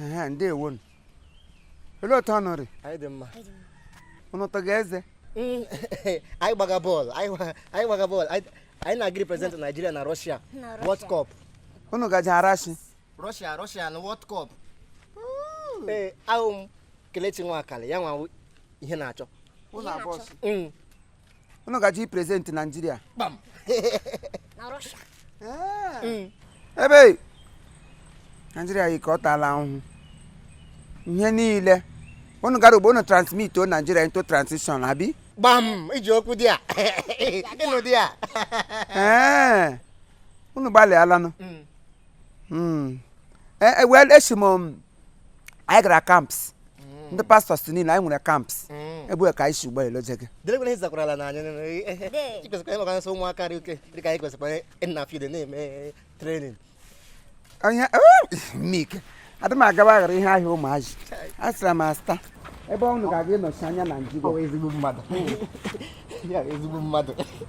Ehe, ndewo nụ. Olee otu unu rị? anyị dị mma Unu tọga eze? Mm, anyị gbaga bọọlụ anyị gba- anyị gbaga bọọlụ anyị anyị na-aga represent naijiria na rọshia Na Russia. world cup Unu gaje rọshia? rọshia rọshia na world cup ee awụ m Kelechi Nwakali ya wụ Iheanacho Unu abụọ sị. Mm, unu gaji present naijiria hmm. ebe naijiria yi ka ọ taala ahụhụ ihe niile unu gara ugbo unu transmit o naijiria into transition abi gbam i ji okwu dia ị nọ dia unu gbalịalanụ hmm. Hmm. Eh, eh, well esi m anyị gara kamps mm. ndị pastors niile anyị nwere kamps mm. ebe ka anyị si ụgbọ elu je gị ụmụaka dị ike dịka anyị kwesịkwara ịna field na-eme trenin onye mike adị m agaba aghara ihe ahịa ụmụazị a sịra m asta ebe unu ga-aga ịnọchi anya naijiria ezigbo mmadụ ezigbo mmadụ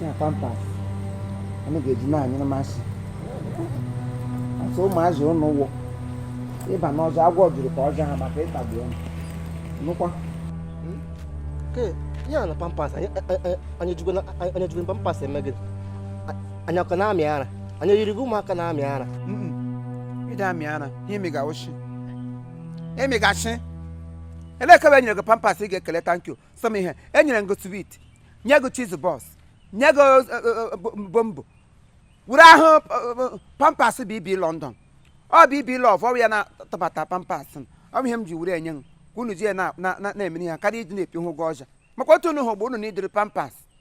na pampas anyị ga-eji na-anyere masị asị ụmụazị ụnụ wụ ịba n'ọzọ agwọ juru ka ọjọ ha maka ịtagbu ụnụ nụkwa ya na pampas anyị jugoro pampas eme gịnị anyị ọ ka na-amị ara anyị yiri gị ụmụaka na-amị ara ị dị amị ara ihe emi ga-awụchi emi ga-achị elekebe nyere gị pampas ị ga-ekele tankyu sọm ihe e nyere gị swit nye gị chiz bọs nye gị eh, eh, eh, bo- bombo were ahụ eh, pampas bb london ọ bb lọv ọ bụ ya na-atụbata pampas m. ọ bụ ihe m ji were enye m ka unu ji ya na- na- na- na-emere ya karịa iji na-epi hụ ụgwọ ọja maka otu unu hụ bụ unu na idiri pampas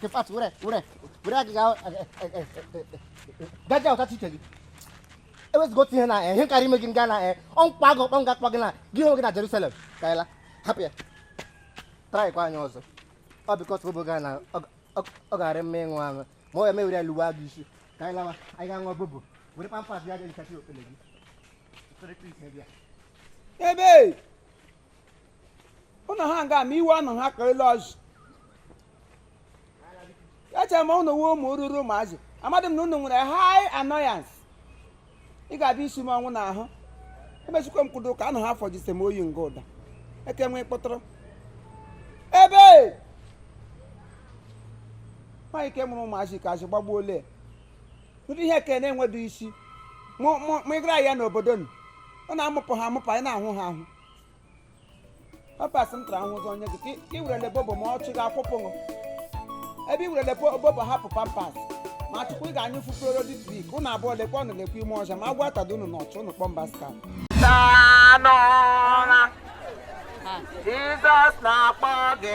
Kefat were were were agịga gaja ọta chiche gị ewezụga otu ihe na ihe karịa ime gị nga na ọnkwa agụ ọkpọ nga akpọ gị na gị hụrụ gị na Jerusalem ka anyị la hapụ ya traịkwa anyị ọzọ ọ bikọs obo ga na ọ ga-arị mma ịṅụ aṅụ ma ọ ya m ewere ya luwa gị isi ka anyị lawa anyị ga-aṅụ bobo were pampas ya ga-ehichachi okpele gị Ebe! ụnụ ha nga ma iwe ụnụ ha ka elu ọzụ echere m ụnụ wụ ụmụ ruru ụmụazị amadị m na ụnụ nwere high annoyance ị ga-abịa isi m ọnwụ n'ahụ emechikwa m kwudo ka anụ ha fọjise m oyi nga ụda eke nwee kpọtụrụ ebe nwaanyị ike mụrụ ụmụazị ka azụ gbagbuo olee ụdị ihe ke na-enwedu isi mụ ịgara ya n'obodo ụnụ ọ na-amụpụ ha amụpụ anyị na-ahụ ha ahụ pampas m tara ahụ ụzọ onye gị ka ị- ka ị werele bobo ma ọchị gị akwụpụ ṅụ ebe ị werele po- bobo hapụ pampas ma chukwu ị ga-anyụ fufere dị trik ụnụ abụọ lekwa ụnụ lekwa ime ọzọ ma agwa atada unu n'ọchụ ụnụ kpọm baska Jizọs na-akpọ gị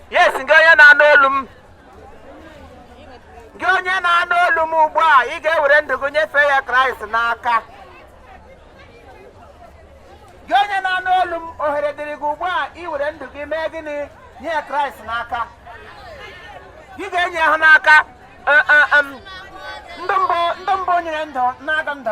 yes gị onye na-anụ olu m gị onye na-anụ olu m ugbu a ị ga-ewere ndụ gị nyefee ya kraịst n'aka gị onye na-anụ olu m ohere dịrị gị ugbu a iwere ndụ gị mee gịnị nye ya kraịst n'aka ị ga-enye ya n'aka ndụ mbụ nyere ndụ na-aga ndụ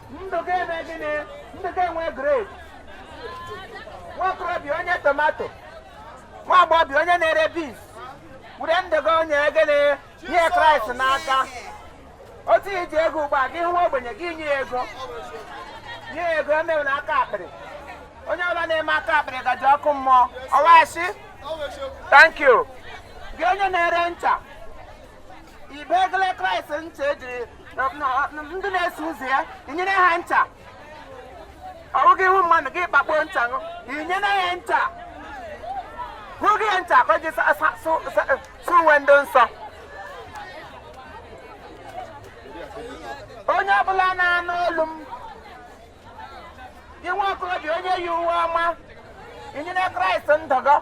ndụ gị emee gịnị ndụ gị enwee grade nwaokorobịa onye tomato nwa agbọghọbịa onye na-ere beans were ndụ gị onye gịnị nye kraịst n'aka otu iji ego ugbu a gị hụ nwa ogbenye gị nye ya ego nye ya ego emewena aka akpịrị onye ọbụla na-eme aka akpịrị gaje ọkụ mmụọ ọ wụ ashị thank you gị onye na-ere ncha i wegele kraịst ncha ejiri ndị na-eso ụzọ ya inyere ha ncha ọ bụghị ịhụ mmadụ gị kpakpo ncha ṅụ inyere ya ncha hụghị ya ncha ka o ji sụọ uwe ndị nsọ onye ọbụla na-anụ olu m gị nwaokorobịa onye yi uwe ọma inyere kraịst ndụ gị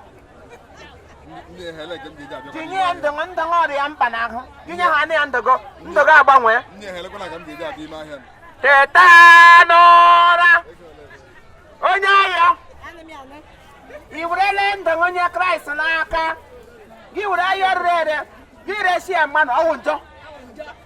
inye ya ndụ gị ndụ gị ọ rị ya mkpa n'ahụ inyehana ya ndụ gị ndụ gị agbanwee teta n'ụra onye ahịa i werele ndụ gị nye kraịst n'aka gị were ahịa rere ere gị resi ya mmadụ ọ wụ njọ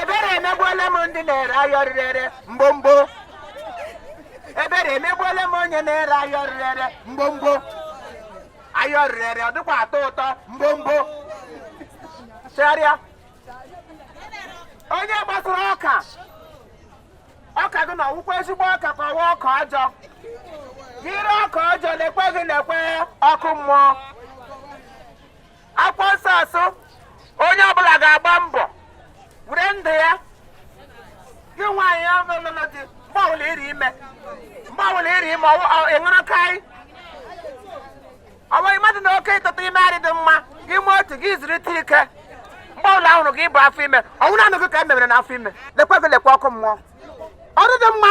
ebere emegbuola m ndị na-ere ahịa rere ere mgbomgbo ebere emegbuola m onye na-ere ahịa rere ere mgbomgbo ahịa rere ere ọ dịkwa atọ ụtọ mgbomgbo chegharịa onye gbasara ọka ọka gị na ọ wụkwa ezigbo ọka ka ọ wụ ọka ọjọọ gị ree ọka ọjọọ lekwe gị lekwe ọkụ mmụọ akwụkwọ nsọ sị onye ọbụla ga-agba mbọ were ndụ ya gị nwaanyị ọlụlụ di mgbe ọbụla ị rị ime mgbe ọbụla ị rị ime ịṅụrụ karị ọ bụghị mmadụ na oke ịtụtụ ime adịghị mma gị mee otu gị zurutụ ike mgbe ọbụla ahụrụ gị ibu afọ ime ọ wụ nanị gị ka e mebere n'afọ ime lekwa gị lekwa ọkụ mmụọ ọ rịghị mma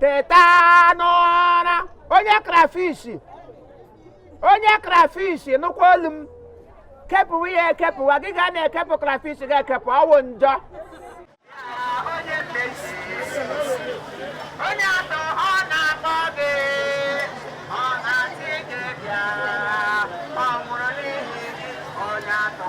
teta n'ụra onye krafish onye krafish nụkwa olu m kepụwa ya ekepụwa gị ga na-ekepụ krafish ga-ekepụ ọ wụ njọ onye mmezi onye atọ ọ na-akpọ gị ọ na-asị gị bịa ọ nwụrụ n'ihi gị onye atọ